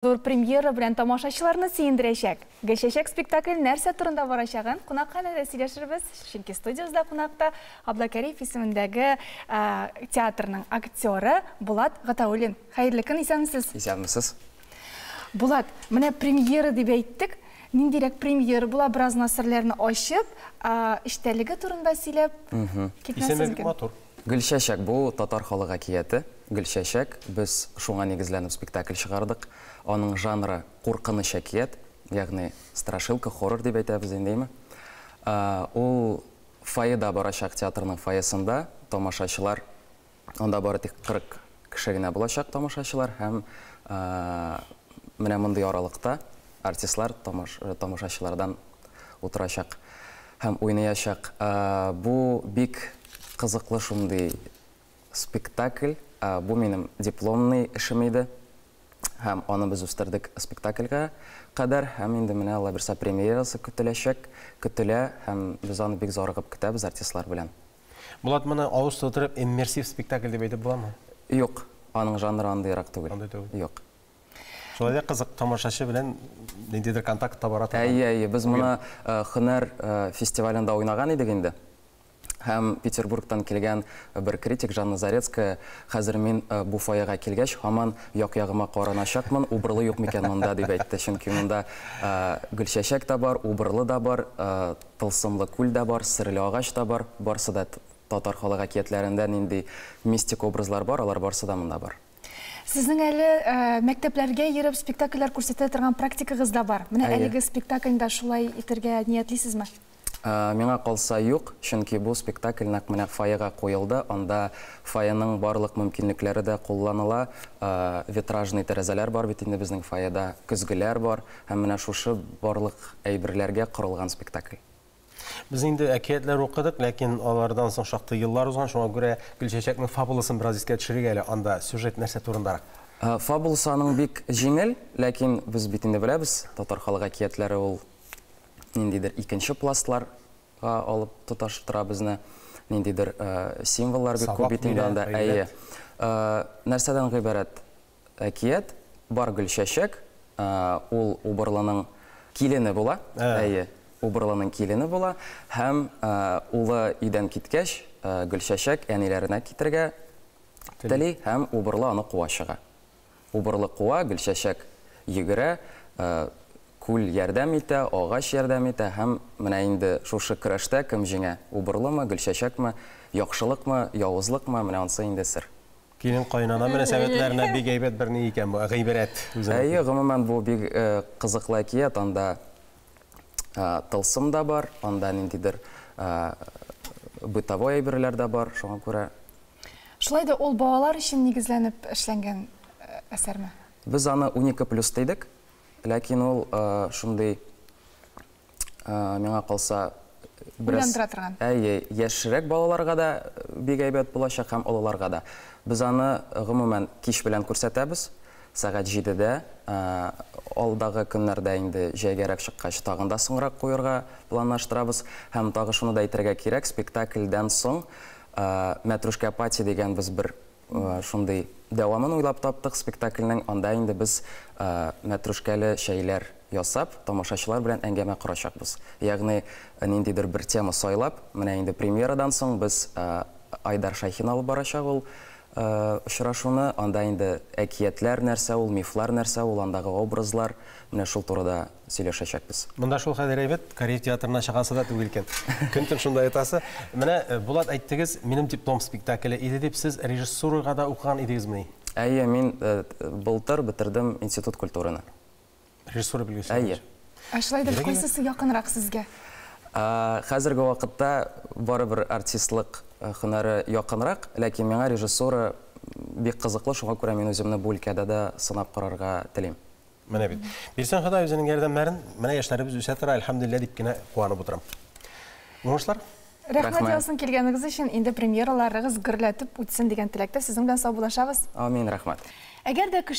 Зур премьера белән тамашачыларны сөендерәчәк Гел чәчәк спектакль нәрсә турында барачагын кунакханәдә сөйләшербез, чөнки студиябездә кунакта Абдалкәриев исемендәге театрның актеры Булат Гатауллин. Хәерле көн, исәнмесез! Исәнмесез! Булат, менә премьера дип әйттек, ниндирәк премьера була, бераз нас серләрне ачып, эчтәлеге турында сөйләп китмәсез икән. Исеме бик матур. Гөлчәчәк, бу, татар халык әкияте. Гөлчәчәк, без шуңа нигезләнеп спектакль чыгардык. Аның жанры, куркыныч әкият, ягъни страшилка, хоррор дип әйтәбез инде, име. Ул фойеда барачак, театрның фойесында, тамашачылар анда бары тик 40 кеше генә булачак тамашачылар һәм менә мондый аралыкта артистлар тамашачылардан утырачак һәм уйныячак. Бу бик кызыклы шундый спектакль. Бу минем дипломный эшем иде һәм аны без үстердек спектакльгә кадәр һәм инде менә аллабирса премьерасы көтеләчәк, көтелә һәм без аны бик зарыгып көтәбез артистлар белән. Булат, моны авыз тутырып иммерсив спектакль дип әйтеп буламы? Юк, аның жанры андыйрак түгел. Андый түгел. Юк. Шулай да кызык, тамашачы белән ниндидер контакт табара торган. Әйе, әйе, без моны һөнәр фестивалендә уйнаган идек инде. Һәм Петербургтан килгән бер критик Жанна Зарецкая, хәзер мин бу фойега килгәч, һаман як-ягыма караначакмын, убырлы юк микән монда, дип әйтте. Чөнки монда Гөлчәчәк тә бар, убырлы да бар, Тылсымлы күл дә бар, серле агач та бар, барсы да татар халык әкиятләрендә нинди мистик образлар бар, алар барсы да монда бар. Сезнең әле мәктәпләргә йөреп спектакльләр күрсәтә торган практикагыз да бар. Менә әлеге спектакльне дә шулай итергә ниятлисезме? Миңа калса, юк, чөнки бу спектакль нәкъ менә фойега куелды, анда фойеның барлык мөмкинлекләре дә кулланыла, витражный тәрәзәләр бар бит инде безнең фойеда, көзгеләр бар. Һәм менә шушы барлык әйберләргә корылган спектакль. Без инде әкиятләр укыдык, ләкин алардан соң шактый еллар узган, шуңа күрә Гөлчәчәкнең фабуласын бераз искә төшерик әле, анда сюжет нәрсә турындарак? Фабуласы аның бик җиңел, ләкин без бит инде беләбез, татар халык әкиятләре ул ниндидер икенче пластлар га алып тоташтыра безне, ниндидер символлар бик күп бит инде анда, әйе. Нәрсәдән гыйбарәт? Әкият бар Гөлчәчәк, ул Убырлының килене була, әйе, Убырлының килене була һәм улы өйдән киткәч, Гөлчәчәк әниләренә китергә тели һәм Убырлы аны куа чыга. Убырлы куа, Гөлчәчәк йөгерә, күл ярдәм итә, агач ярдәм итә һәм менә инде шушы көрәштә кем җиңә, Убырлымы, Гөлчәчәкме, яхшылыкмы, явызлыкмы, менә ансы инде сер. Килен-каенана мөнәсәбәтләренә бик әйбәт бер ни икән бу, гыйбрәт үзенең. Әйе, гомумән, бу бик кызыклы әкият. Анда тылсым да бар, анда ниндидер бытовой әйберләр дә бар, шуңа күрә. Шулай да ул балалар өчен нигезләнеп эшләнгән әсәрме? Без аны унике плюс дидек, ләкин ул шундый миңа калса, бераз әйе, яшьрәк балаларга да бик әйбәт булачак һәм олыларга да. Без аны, гомумән, кич белән күрсәтәбез, сәгать җидедә. Алдагы көннәрдә инде җәйгәрәк чыккач, тагын да соңрак куерга планлаштырабыз. Һәм тагы шуны да әйтергә кирәк, спектакльдән соң Мәтрүшкә Пати дигән без бер Шундый дәвамын уйлап таптык спектакльнең. Анда инде без мәтрүшкәле чәйләр ясап, тамашачылар белән әңгәмә корачакбыз. Ягъни, ниндидер бер тема сайлап, менә инде премьерадан соң без Айдар Шәйхин алып барачак ул очрашуны. Анда инде әкиятләр нәрсә ул, мифлар нәрсә ул, андагы образлар, менә шул турыда сөйләшәчәкбез. Монда шул хәзер әйбәт, Корея театрына чыгасы да түгел икән. Көн-төн шунда ятасы. Менә, э, Булат, әйттегез, минем диплом спектакле иде дип, сез режиссурага да укыган идегезмени? Әйе, мин э, былтыр бетердем институт культураны. Режиссура белгечлеге Әйе. буенча. Ә шулай итеп, Бигрәк кайсысы якынрак сезгә? Ә, Хәзерге вакытта барыбер артистлык э, һөнәре якынрак, ләкин миңа режиссура м, бик кызыклы, шуңа күрә мин үземне бу өлкәдә дә сынап карарга телим. Менә бит. Бирсен Ходай үзенең ярдәмнәрен, менә яшьләребез үсә тора, әлхәмдулиллә дип кенә куанып утырам. Уңышлар! Рәхмәт яусын килгәнегез өчен. Инде премьераларыгыз гөрләтеп үтсен дигән теләктә сезнең белән саубуллашабыз. Амин, рәхмәт. Әгәр дә кеше